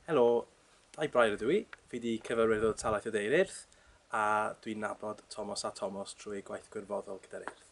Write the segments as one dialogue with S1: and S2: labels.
S1: Helo, dau brair ydw i. Fi wedi cyfarwydd o talaeth o ddeir eirth, a dwi'n nabod Tomos a Tomos trwy gwaith gwirfoddol gyda'r eirth.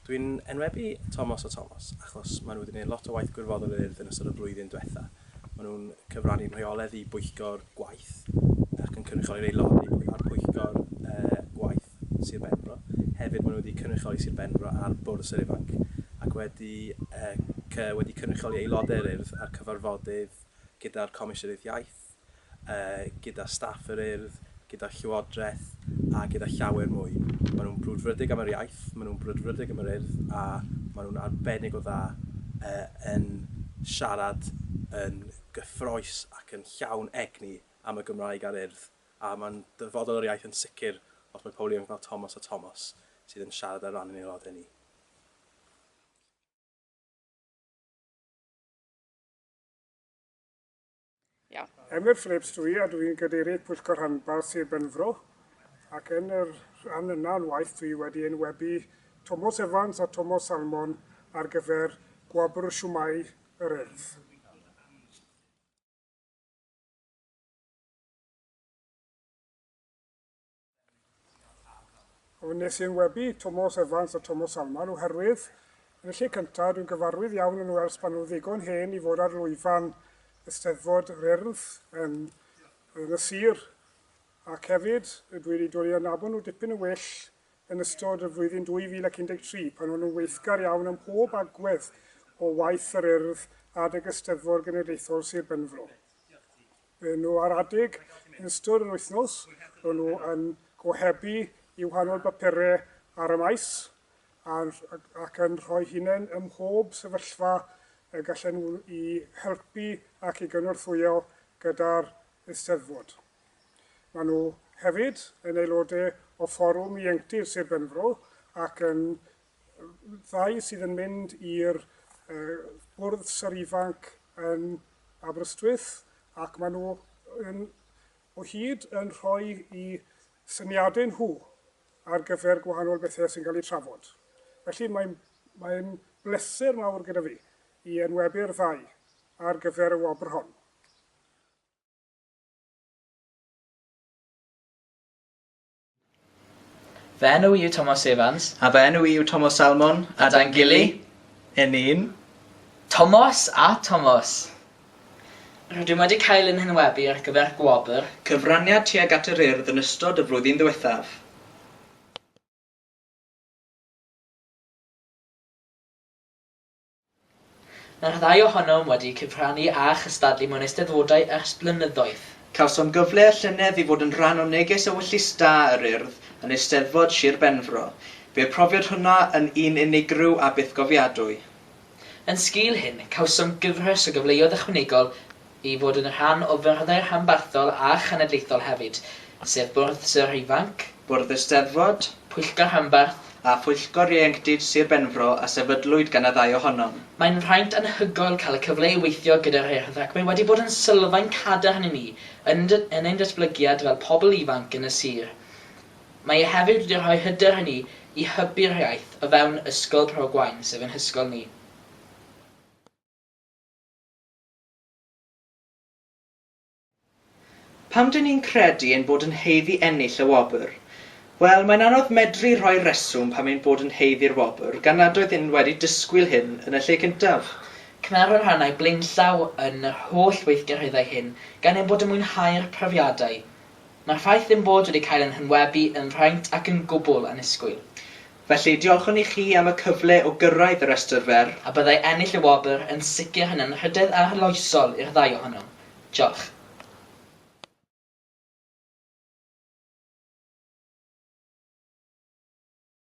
S1: Dwi'n enwebu Tomos a Tomos achos maen nhw wedi gwneud lot o waith gwirfoddol i'r Urdd yn ystod y flwyddyn diwetha'. Maen nhw'n cyfrannu'n rheoledd i bwyllgor gwaith ac yn cynrychioli'r aelodau pwy- ar pwyllgor yy gwaith Sir Benfro. Hefyd maen nhw wedi cynrychioli Sir Benfro ar Bwrdd Sir Ifanc ac wedi yy cy- wedi cynrychioli aelodau'r Urdd ar cyfarfodydd gyda'r Comisiynydd Iaith, gyda staff yr Urdd, gyda Llywodraeth a gyda llawer mwy. Maen nhw'n brwdfrydig am yr iaith, maen nhw'n brwdfrydig am yr Urdd a maen nhw'n arbennig o dda yn siarad yn gyffrous ac yn llawn egni am y Gymraeg a'r Urdd a mae'n dyfodol yr iaith yn sicr os mae pobl ifanc fel Tomos a Tomos sydd yn siarad ar ran ein aelodau ni. Iawn. Emyr Phillips dw i a dw i'n Gadeirydd Pwyllgor Rhanbarth Sir Benfro ac yn yr rhan yna o'n waith dw i wedi enwebu Tomos Evans a Tomos Salmon ar gyfer Gwobr Siwmai yr Urdd. Wnes i enwebu Tomos Evans a Tomos Salman oherwydd, yn y lle cyntaf, dwi'n gyfarwydd iawn yn Wales pan nhw'n ddigon hen i fod ar lwyfan y Steddfod yr Urdd yn, yn y sir, ac hefyd dwi wedi dod i adnabod nhw dipyn yn well yn ystod y flwyddyn 2013 pan o'n nhw'n weithgar iawn ym mhob agwedd o waith yr Urdd adeg y Steddfod Genedlaethol Sir Benfro. Maen nhw ar adeg yn ystod yr wythnos, maen nhw yn gohebu i wahanol bapurau ar y maes ac yn rhoi hunain ym mhob sefyllfa y gallen nhw i helpu ac i gynorthwyo gyda'r Eisteddfod. Maen nhw hefyd yn aelodau o Fforwm Ieuenctid Sir Benfro ac yn ddau sydd yn mynd i'r uh, bwrdd syr ifanc yn Aberystwyth ac maen nhw yn, o hyd yn rhoi i syniadau nhw ar gyfer gwahanol bethau sy'n cael eu trafod. Felly mae'n mae bleser mawr gyda fi i enwebu'r ddau ar gyfer y wobr hon. Fy enw i yw Tomos Evans. A fy enw i yw Tomos Salmon. A da'n gily, yn ni'n. Tomos a Tomos! Rydym wedi cael ein henwebu ar gyfer gwobr. Cyfraniad tuag at yr Urdd yn ystod y flwyddyn ddiwethaf. Mae'r ddau ohonom wedi cyfrannu a chystadlu mewn Eisteddfodau ers blynyddoedd. Cawsom gyfle y llynedd i fod yn rhan o neges ewyllys da yr Urdd yn Eisteddfod Sir Benfro. Bu'r profiad hwnna yn un unigryw a bythgofiadwy. Yn sgil hyn, cawsom gyfres o gyfleoedd ychwanegol i fod yn rhan o fyrddau rhanbarthol a chenedlaethol hefyd, sef Bwrdd Sir Ifanc, Bwrdd Eisteddfod, Pwyllgor Rhanbarth a Phwyllgor Ieuenctid Sir Benfro a sefydlwyd gan y ddau ohonom. Mae'n fraint anhygoel cael y cyfle i weithio gyda'r Urdd ac mae wedi bod yn sylfaen cadarn i ni yn yn ein datblygiad fel pobl ifanc yn y sir. Mae e hefyd wedi rhoi hyder i ni i hybu'r iaith o fewn Ysgol Bro Gwaun, sef ein hysgol ni. Pam dŷn ni'n credu ein bod yn haeddu ennill y wobr? Wel, mae'n anodd medru rhoi rheswm pam ein bod yn haeddu'r wobr gan nad oeddwn wedi disgwyl hyn yn y lle cyntaf. Cynhara rhannau blaenllaw yn yr holl weithgareddau hyn gan ein bod yn mwynhau'r profiadau. Mae'r ffaith ein bod wedi cael ein hynwebu yn fraint ac yn gwbl annisgwyl. Felly, diolchwn i chi am y cyfle o gyrraedd y rhestr fer. A byddai ennill y wobr yn sicr yn anrhydedd arloesol i'r ddau ohonom. Diolch.